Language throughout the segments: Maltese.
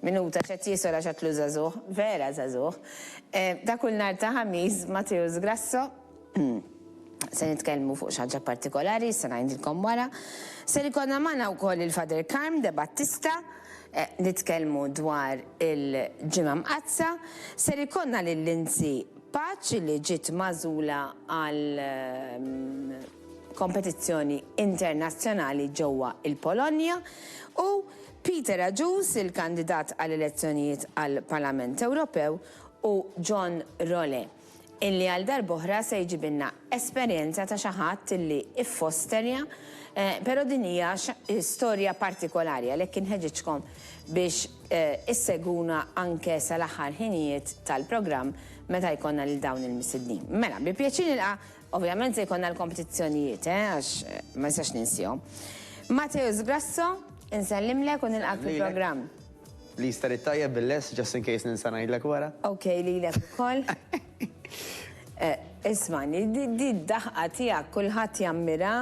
Minuta, x'qed jiesel għax għadlu żagħżugħ. Vera żagħżugħ. Ta' kull nhar ta' Ħamis, Matteus Grasso, se nitkellmu fuq xi ħaġa partikolari, issa ngħidilkom wara. Ser ikollna magħna wkoll il-Father Carm de Battista, nitkellmu dwar il-Ġimgħa Mqaddsa. Ser ikollna lil Lindsay Paċ li ġiet magħżula għal kompetizzjoni internazzjonali ġewwa il-Polonja u Peter Agius, il-kandidat għal elezzjonijiet għall-Parlament Ewropew, u John Role, illi għal darb'oħra se jġibilna esperjenza ta' xi ħadd illi ffosterja, pero' din hija storja partikolari għalhekk inħeġġiġkom biex issegwuna anke sal-aħħar ħinijiet tal-programm meta jkollna lil dawn il-missidnin. Mela, bi pjaċir nilqa' Ovvjament se jkollna l-kompetizzjonijiet, eh, għax ma nistax ninsihom. Mateusz Grasso, insellimlek u nilqgħek fil-programm. Please tari t-tajjeb bil-less, just in case ninsa ngħidlek wara. Ok, lilek ukoll. Ismagħni, di d-daħqa tiegħek kulħadd jammira,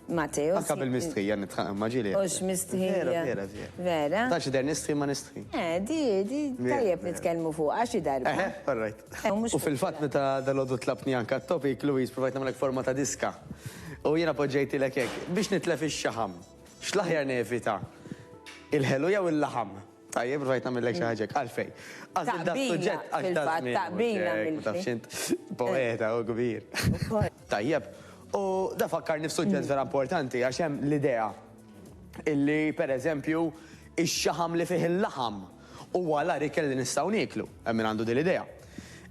Mateo. Anka bil-mistħija nitħaq imma ġieli. Ux mistħija. Vera, vera, vera. Vera? Ta' xider nistħi ma nistħi. Eh, di, di, tajjeb nitkellmu fuq, għax darba. Eh, eh all right. Eh, u fil-fat meta dal-għodu tlabtni anka t-topik, Louise, provajt namlek forma ta' diska. U jena poġġejti l biex nitlef ix-xaħam. X'laħjar nevita? Il-ħelu jew il-laħam? Tajjeb, rajt namillek xaħġek, għalfej. Għazil da suġġett, għax da Taqbila, taqbila. Poeta, u kbir. Tajjeb. U da fakkarni f'suġġett vera importanti għax hemm l-idea illi pereżempju ix-xaħam li fih il-laħam huwa l-agħar ikel li nistgħu nieklu. Hemm min għandu din l-idea.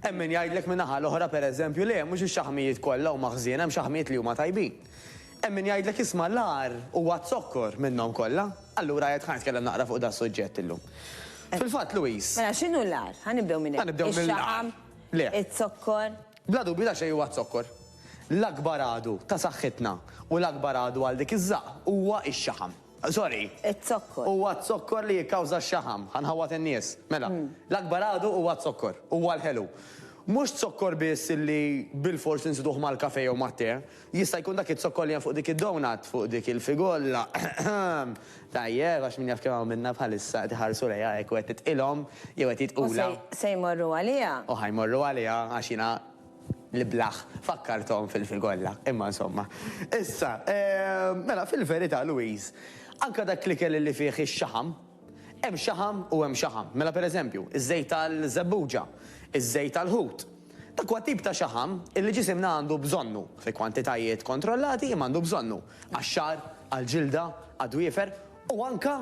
Hemm min jgħidlek min-naħa l-oħra pereżempju le, mhux ix-xaħmijiet kollha huma ħżiena, hemm xaħmijiet li huma tajbin. Hemm min jgħidlek isma' l-agħar huwa z-zokkor minnhom kollha. Allura għedt ħa nitkellem naqra fuq da s-suġġett illum. Fil-fatt, Louise. Mela x'inhu l-agħar? Ħa nibdew minn hemm. Ħa nibdew mill-agħar. Ix-xaħam, iz-zokkor. Bla dubju ta' xejn huwa z-zokkor. L-akbar għadu ta' saħħitna u l-akbar għadu għal dik iż-żaqq huwa x-xaħam. Sorry. Iz-zokkor. Huwa z-zokkor li jikkawża x-xaħam. Ħa nħawwad in-nies. Mela, l-akbar għadu huwa z-zokkor. Huwa l-ħelu. Mhux z-zokkor biss li bilfors insiduh mal-kafè jew mat-te. Jista' jkun dak iz-zokkol li hemm fuq dik id-doughnut, fuq dik il-figolla, eħemm. Tajjeb, għax min jaf kemm hawn minna bħalissa qed iħarsu lejha hekk u qed titqilhom, jew qed jitqulha. U se, se jmorru għaliha. U ħa jmorru għaliha, għax jiena l-iblah fakkarthom fil-figolla. Imma insomma. Issa, ehm, mela fil-verità, Louise, anke dak l-ikel li fih ix-xaħam, Hemm xaħam u hemm xaħam. Mela pereżempju, iż-żejt tal-żebbuġa, iż-żejt tal-ħut. Dak huwa tip ta' xaħam illi ġisimna għandu bżonnu, fi kwantitajiet kontrollati imma għandu bżonnu, għax-xagħar, għall-ġilda, għad-dwiefer u anke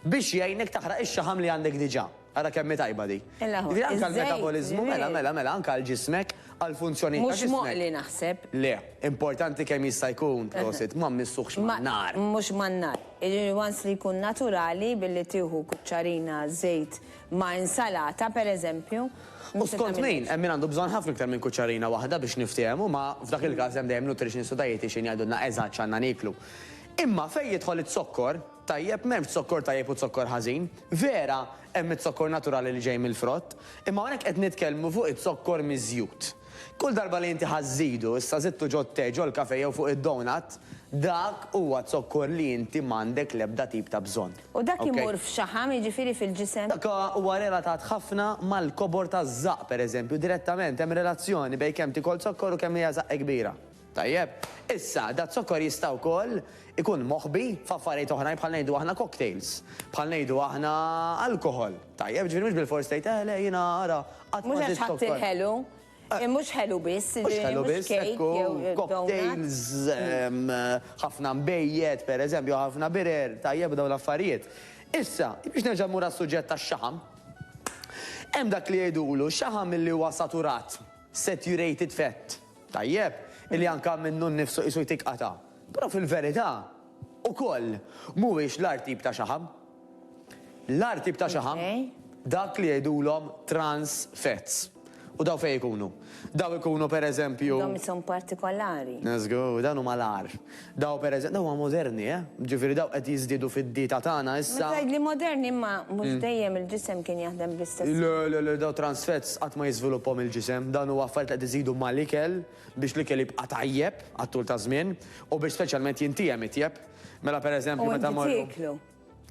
biex jgħinek taħraq ix-xaħam li għandek diġà. Ara kemm hi tajba din! Jiġifieri anke għall-metaboliżmu, mela, mela, mela, anke għal ġismek. għall-funzjonijiet ta' ġismek. Mhux moqli naħseb. Le, importanti kemm jista' jkun, prosit, ma mmissuhx man-nar. Mhux man-nar. Once li jkun naturali billi tieħu kuċċarina żejt ma' insalata, pereżempju. U skont min, hemm min għandu bżonn ħafna iktar minn kuċċarina waħda biex niftiehmu, ma f'dak il-każ hemm dejjem nutritionist u dietician jgħidulna eżatt x'għandna nieklu. Imma fejn jidħol iz-zokkor, Tajjeb, m'hemmx zokkor tajjeb u zokkor ħażin. Vera, hemm iz-zokkor naturali li ġej mill-frott, imma hawnhekk qed nitkellmu fuq iz-zokkor miż-żjut. Kull darba li inti ħa żżidu, issa żidtu ġot-te, ġol-kafe jew fuq id-donut, dak huwa zokkor li inti m'għandek l-ebda tip ta' bżonn. U dak imur f'xaħam, jiġifieri fil-ġisem. Dak huwa relatat ħafna mal-kobor taż-żaqq, pereżempju, direttament hemm relazzjoni bejn kemm tikol zokkor u kemm hija żaqq kbira. Tajjeb. Issa, daz-zokkor jista' wkoll ikun moħbi f'affarijiet oħrajn bħal ngħidu aħna cocktails, bħal ngħidu aħna alkoħol. Tajjeb, ġifieri mhux bilfors tgħid, eh le jiena ara qatt ma żidt zokkor. Mhux għax ħadt il-ħelu, mhux ħelu biss, ġifieri mhux kejk jew donut. Cocktails, ħafna nbejjed, pereżempju, ħafna birer, tajjeb dawn l-affarijiet. Issa, biex nerġa' mmur għas-suġġett tax-xaħam, hemm dak li jgħidulu xaħam li huwa saturat. saturated fat, tajjeb, illi anke minnu nnifsu qisu jtik qatgħa, però fil-verità, ukoll, mhuwiex l-agħar tip ta' xaħam. L-agħar tip ta' xaħam, dak li jgħidulhom trans fats. U dawn fejn ikunu? Dawn ikunu, pereżempju. Dawn ishom partikolari. Żgur, dawn huma l-agħar. Daw per eżem, daw huma moderni, eh? Ġifieri daw qed jiżdiedu fid-dieta tagħna issa. Meta tgħidli moderni imma mhux dejjem il-ġisem kien jaħdem bl-istess mod. Le, le, le, daw trans fats qatt ma jiżviluppahom il-ġisem, dawn huwa affarijiet li qed iżidu mal-ikel biex l-ikel jibqa' tajjeb għat-tul taż-żmien u biex speċjalment jintiehem itjeb. Mela per eżempju meta mmorru. U inti tieklu.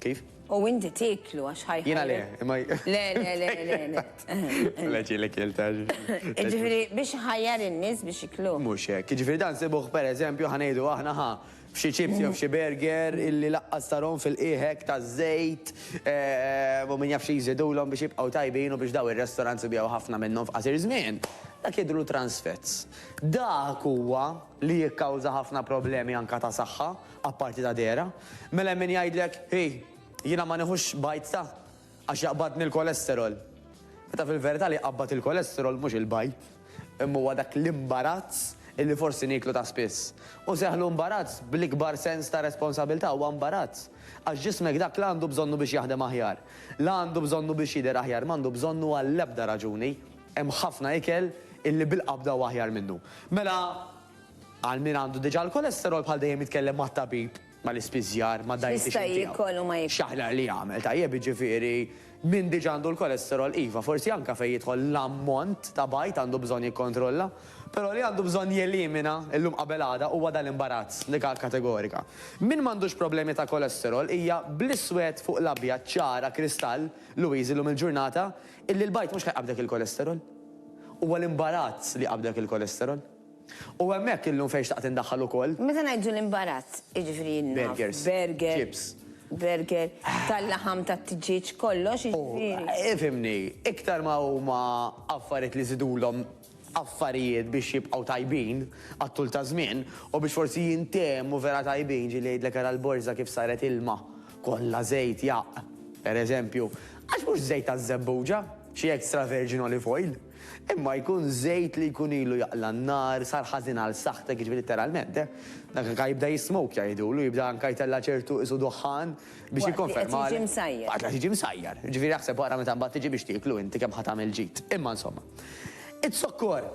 Kif? U inti tiklu għax ħajħu. Jina le, imma. Le, le, le, le, le. Le ġilek jiltaġ. Ġifiri, biex ħajjar in-nis biex iklu. Mux hekk, ġifiri dan sibuħ per eżempju ħanejdu aħna ħa f'xi ċipsi u f'xi burger illi laqqas tarom fil-qiehek ta' żejt u min jaf xi jżidulhom biex jibqgħu tajbin u biex daw ir-restaurants ibjaw ħafna minnhom f'qasir żmien. Dak jidhru trans fats. Dak huwa li jikkawża ħafna problemi anka ta' saħħa Apparti ta' dehra. Mela hemm min jgħidlek, hi, jiena ma nieħux bajd ta', għax jaqbadni l-kolesterol. Meta fil-verità li jqabbad il-kolesterol mhux il-bajd, imma huwa dak l-imbarazz illi forsi nieklu ta' spiss. U seħħlu imbarazz bl-ikbar sens ta' responsabilità, huwa imbarazz. Għax ġismek dak la għandu bżonnu biex jaħdem aħjar, la għandu bżonnu biex jidher aħjar, m'għandu bżonnu għall-ebda raġuni. Hemm ħafna ikel illi bil-qabda huwa aħjar minnu. Mela Għal min għandu diġà l-kolesterol bħal dejjem jitkellem mat-tabib, mal-ispiżjar, mad-dietician tiegħu. X'jista' jiekol u ma jiekol. X'aħjar li jagħmel, tajjeb jiġifieri min diġà għandu l-kolesterol iva forsi anke fejn jidħol l-ammont ta' bajd għandu bżonn jikkontrolla, però li għandu bżonn jelimina illum qabel għada huwa dan l-imbarazz, l-ikgħa kategorika. Min m'għandux problemi ta' kolesterol hija bl-iswed fuq l-abjad ċara kristall Louise illum il-ġurnata illi l-bajd mhux li jqabbdek il-kolesterol. Huwa l-imbarazz li jqabbdek il-kolesterol. U hemmhekk illum fejn xtaqt indaħħal ukoll. Meta ngħidu l-imbarazz, jiġifieri naf burger, burger, tal-laħam tat-tiġieġ, kollox jiġifieri. Ifhimni, iktar ma huma affarijiet li żidulhom affarijiet biex jibqgħu tajbin għat-tul ta' żmien u biex forsi jintemmu vera tajbin, ġieli jgħidlek ara l-borża kif saret ilma, kollha żejt jaqq, pereżempju, għax mhux żejt taż-żebbuġa, xi extra virgin olive oil. Imma jkun żejt li jkun ilu jaqla' n-nar, sar ħażin għal saħħtek, jiġifieri litteralment, eh. Dak anka jibda jismokja jgħidulu, jibda anka jtella' ċertu qisu duħħan biex jikkonfermalek. Waqt li qed jiġi msajjar. Waqt li qed jiġi msajjar. Jiġifieri aħseb ara meta mbagħad tiġi biex tieklu inti kemm ħa tagħmel ġid. Imma insomma. Iz-zokkor!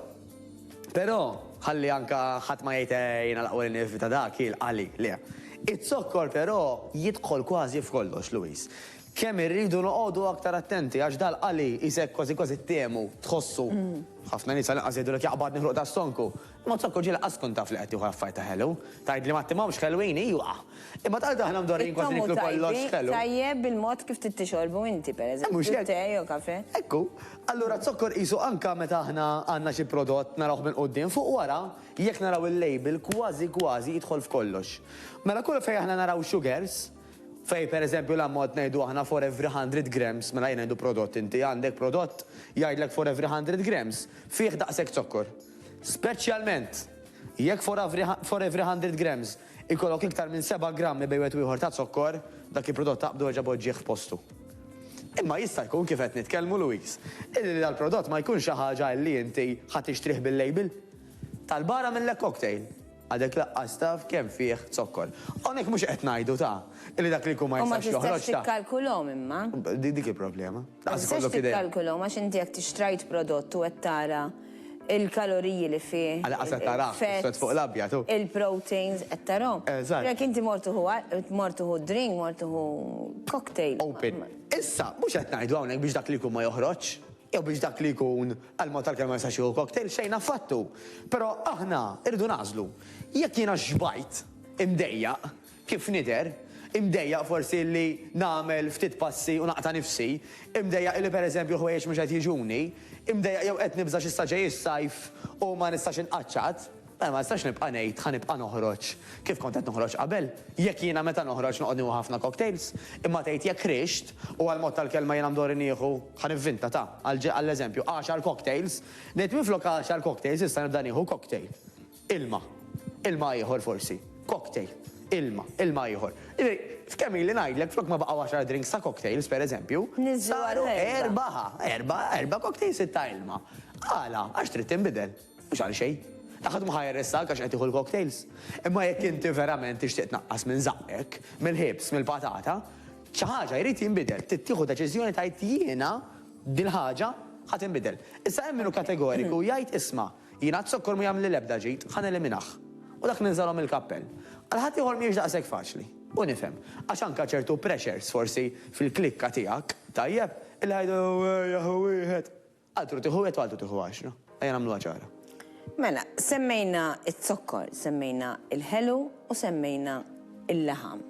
Però, ħalli anka ħadd ma jgħid eh jiena l-aqwa li nevita dak, hi l-qali, le. Iz-zokkor però jidħol kważi f'kollox, Louise. Kemm irridu noqogħdu aktar attenti għax dal qali qisek kważi kważi ttehmu, tħossu. Ħafna nies għall-inqas jgħidulek jaqbadni ħruq ta' stonku. Imma zokk u ġie lanqas tkun taf li qed tieħu l-affarijiet ta' ħelu. Tgħidli ma ttimhomx ħelwin, ijwa! Imma tant aħna mdorrijin kważi niklu kollox ħelu. It-tomm hu tajjeb, tajjeb bil-mod kif trid tixorbu inti, per eżempju. Mhux hekk? Te jew kafè. Hekk hu. Allura z-zokkor qisu anke meta aħna għandna xi prodott narawh minn quddiem, fuq wara, jekk naraw il-label kważi kważi jidħol f'kollox. Mela kull fejn aħna naraw sugars, Fejn pereżempju l-ammont ngħidu aħna for every hundred grams, mela jien ngħidu prodott inti għandek prodott jgħidlek for every hundred grams fih daqshekk zokkor. Speċjalment jekk for every for every hundred grams ikollok iktar minn seba' grammi bejn wieħed u ieħor ta' zokkor, dak il-prodott taqbdu erġa' poġġih f'postu. Imma jista' jkun kif qed nitkellmu Louise, illi dal-prodott ma jkunx xi ħaġa illi inti ħa tixtrih bil-label tal-bar għamillek cocktail. Għadek laqqas taf kemm fih zokkor. Hawnhekk mhux qed ngħidu ta, illi dak li jkun ma jistax joħroġ ta. U ma tistax tikkalkulhom imma. Dik il-problema. Ma tistax tikkalkulhom għax inti jekk tixtrajt prodott u qed tara il-kaloriji li fih. Għal inqas qed tarah l-iswed fuq l-abjad hu. Il-proteins qed tarahom. Eżatt. Jekk inti mort tieħu mort tieħu drink, mort tieħu cocktail. Open. Issa, mhux qed ngħidu hawnhekk biex dak li jkun ma joħroġx. jew biex dak li jkun għal mod tal-kelma ma jistax jieħu cocktail, xejn affattu. Però aħna rridu nagħżlu. Jekk jiena xbajt imdejjaq, kif nidher, imdejjaq forsi li nagħmel ftit passi u naqta' nifsi, imdejjaq li pereżempju l-ħwejjeġ mhux qed jiġuni, imdejjaq jew qed nibża' x'issa ġej is-sajf u ma nistax inqaċċat, Mela ma nistax nibqa' ngħid ħa nibqa' noħroġ kif kont qed noħroġ qabel, jekk jiena meta noħroġ noqgħod nieħu ħafna cocktails, imma tgħid jekk ħriġt, u għall-mod tal-kelma jiena mdorri nieħu, ħa nivvinta ta, għall-eżempju, għaxar cocktails, ngħid minflok għaxar cocktails issa nibda nieħu cocktail. Ilma. Ilma ieħor forsi. Cocktail. Ilma. Ilma ieħor. Jiġifieri, f'kemm ili ngħidlek flok ma baqgħu għaxar drinks ta' cocktails, pereżempju, saru erba' ħa, erba' cocktails sitta ilma. Għala? Għax trid tinbidel. Mhux għalxejn. Dak ħadd ma ħa jarrestak għax qed tieħu l-cocktails. Imma jekk inti verament tixtieq tnaqqas minn żaqqek, mill-ħibs, mill-patata, xi ħaġa jrid jinbidel. Trid tieħu deċiżjoni tgħid jiena dil-ħaġa ħa tinbidel. Issa hemm min hu kategoriku u jgħid isma', jiena z-zokkor mhu jagħmilli l-ebda ġid, ħa neliminah. U dak ninżalhom il-kappell. Għal ħaddieħor mhijiex daqshekk faċli. U nifhem. Għax anke ċertu pressures forsi fil-klikka tiegħek, tajjeb, illi jgħidu ejja hu wieħed. Altru tieħu wieħed u altru tieħu għaxra. Ejja nagħmluha ċara. Mela, semmejna z-zokkor, semmejna il-ħelu u semmejna il-laħam.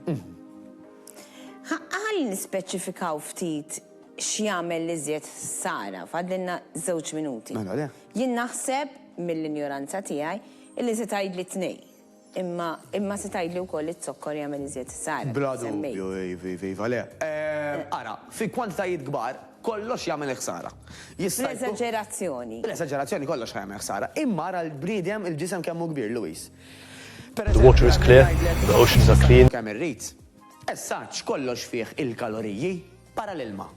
Ħa ħalli nispeċifikaw ftit x'jagħmel l-iżjed ħsara, fadlilna żewġ minuti. Mela le. Jien naħseb mill-injoranza tiegħi illi se tgħidli tnejn. Imma, imma se tgħidli wkoll li z-zokkor jagħmel iżjed ħsara, kif Bla semmejt. dubju, iv, iv, iva, le. Eh, ara, fi kwantitajiet kbar, kollox jagħmel ħsara. Jista' jkun. Bl-eżaġerazzjoni. Bl-eżaġerazzjoni kollox ħa jagħmel ħsara. Imma ara l-bniedem, il-ġisem kemm hu kbir, Louise. Per The water eżempju, is ara, nien clear, ngħidlek, the oceans are clean. kemm irrid. As such, kollox fih il-kaloriji. Para l-ilma.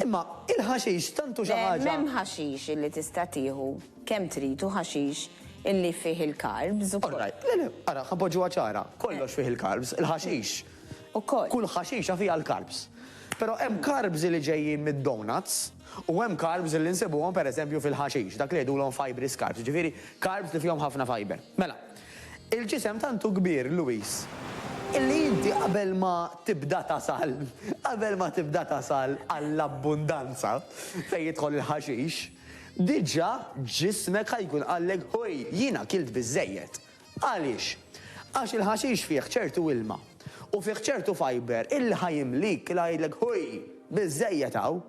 Imma il-ħaxix tant hu xi ħaġa. Le, m'hemm ħaxix illi tista' tieħu kemm trid u ħaxix illi fih il-carbs ukoll. All right. Le, le, ara, ħa npoġġuha ċara. Kollox fih il-carbs, il-ħaxix. Ukoll. Kull ħaxixa fiha l-carbs. Però hemm carbs li ġejjin mid-donuts u hemm carbs li nsibuhom pereżempju fil-ħaxix, dak li jgħidulhom fibrous carbs, jiġifieri carbs li fihom ħafna fiber. Mela. Il-ġisem tant hu kbir, Louis, illi inti qabel ma tibda tasal, qabel ma tibda tasal għall-abbundanza fejn jidħol il-ħaxix, diġà ġismek ħa jkun qallek Ħuj, jiena kilt biżżejjed. Għaliex? Għax il-ħaxix fih ċertu ilma u fih ċertu fibre illi ħa jimlik, illi ħa jgħidlek Ħuj, biżżejjed hawn.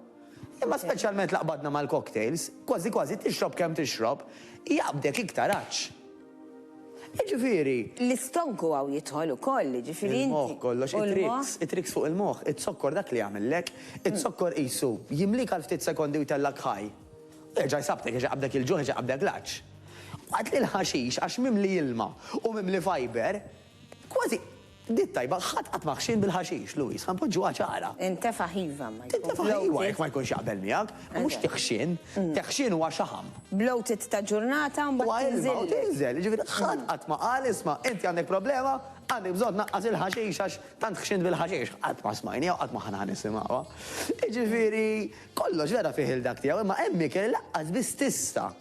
Imma speċjalment l-aqbadna mal-cocktails, kważi kważi tixrob kemm tixrob, jaqbdek iktar għatx. Jiġifieri. L-istonk u hawn jidħol ukoll, jiġifieri inti. Il-moħħ kollox, it-tricks, it-tricks fuq il-moħħ, iz-zokkor dak li jagħmillek, iz-zokkor qisu jimlik għal ftit sekondi u jtellgħek high. U jerġa' jsabtek, jerġa' jqabbdek il-ġuħ, jerġa' jqabbdek l-għatx. Waqt li l-ħaxix għax mimli ilma u mimli fiber, kważi Bdiet tajba, ħadd qatt ma ħxin bil-ħaxix, Louise, ħa npoġġuha ċara. Tintefaħ iva imma jkun bloated. Tintefaħ iva jekk ma jkunx jaqbel miegħek, imma mhux tiħxin. Teħxin huwa xaħam. Bloated ta' ġurnata u mbagħad tinżillek. Huwa ilma u tinżel, jiġifieri ħadd qatt ma qal isma' inti għandek problema, għandek bżonn tnaqqas il-ħaxix għax tant ħxint bil-ħaxix. Qatt ma smajniha u qatt ma ħa nisimgħuha. Jiġifieri kollox vera fih il-dak tiegħu imma hemm ikel li lanqas biss tista'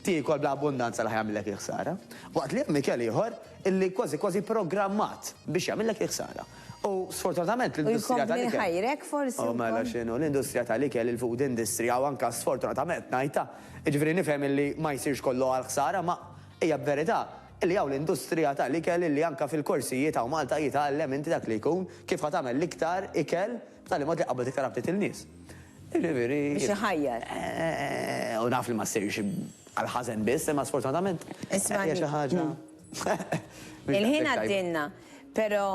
Tiekol bla abbundanza l-ħa jagħmillek il-ħsara. Waqt li hemm ikel ieħor illi kważi kważi programmat biex jagħmillek il-ħsara. U sfortunatament l-industrija tal-ikel. U jkompli jħajrek forsi. U mela x'inhu, l-industrija tal-ikel, il-food industry, u anke sfortunatament ngħidha, jiġifieri nifhem illi ma jsirx kollu għall-ħsara, ma hija verità illi hawn l-industrija tal-ikel illi anke fil-korsijiet hawn Malta jitgħallem inti dak li jkun kif ħa tagħmel l-iktar ikel, B'tali mod li qabbad iktar aptit il-nies. Jiġifieri. Biex iħajjar. U naf li ma ssirx għall-ħażen biss, imma sfortunatament. Isma'. Hija xi ħaġa. Il-ħin għaddielna, però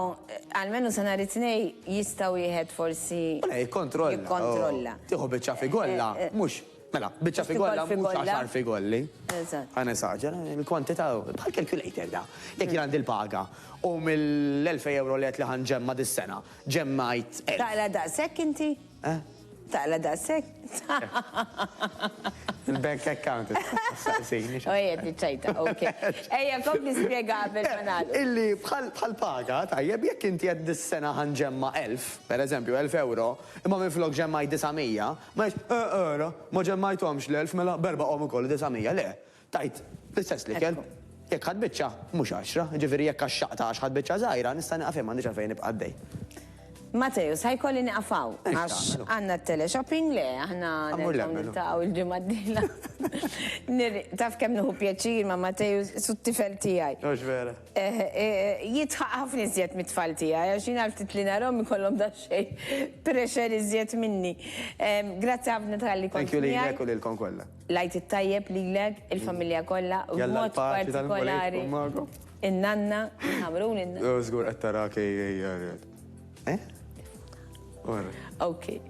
almenu sa nhar it-Tnejn jista' wieħed forsi. Ikkontrolla. Jikkontrolla. Tieħu biċċa figulla, mhux. Mela, biċċa fi golla mhux għaxar fi golli. Eżatt. Ħa nesaġera, il-kwantità bħal calculator da. Jekk jien għandi l-paga u mill-1000 euro li qed li ħa nġemma' dis-sena, ġemmajt 1000. Taqla daqshekk inti? Eh? Taqla daqshekk? Il-bank account. Saqsini. U qiegħed iċċajta, ok. Ejja, kompli spjega qabel ma nagħlqu. Illi bħal bħal paga, tajjeb, jekk inti qed dis-sena ħa nġemma' 1000, pereżempju 1000 euro, imma minflok ġemmajt 900, Ma jgħidx, Eh, eh, ra, ma ġemmajthomx l-elf, mela b'erbgħahom ukoll disa' mija. Le, tajt l-istess l-ikel. Jekk ħadt biċċa, mhux għaxra. Jiġifieri jekk għaxxaqtha għax ħadt biċċa żgħira, nista' nieqaf hemm, m'għandix għalfejn nibqa' għaddej. Matteus, ħa jkolli nieqaf hawn għax għandna t-teleshopping, le, aħna nerġgħu niltaqgħu l-ġimgħa d-dieħla. Taf kemm nieħu pjaċir ma' Matteus, su t-tifel tiegħi. Mhux vera. Jidħaq ħafna iżjed mit-tfal tiegħi għax jien għal ftit li narahom ikollhom daqsxejn pressure iżjed minni. Grazzi ħafna talli kont miegħi. Thank you lilek u lilkom kollha. L-Għid it-Tajjeb lilek, il-familja kollha, u b'mod partikolari in-nanna, Ħamrun in-nanna. Żgur qed tara kejkej. Eh? Or. Ok.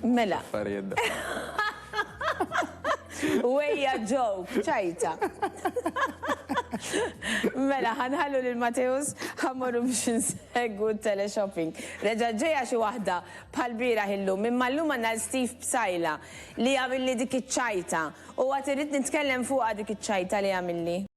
Mela. Affarijiet Wejja ġow, ċajta. Mela, ħanħallu lil Mateus ħammurru biex nsegwu teleshopping. Reġa ġeja xi waħda bħal bira ħillu minn mallum għandna Steve Psajla li għamilli dik iċ-ċajta u għad irrid nitkellem fuqha dik iċ-ċajta li għamilli.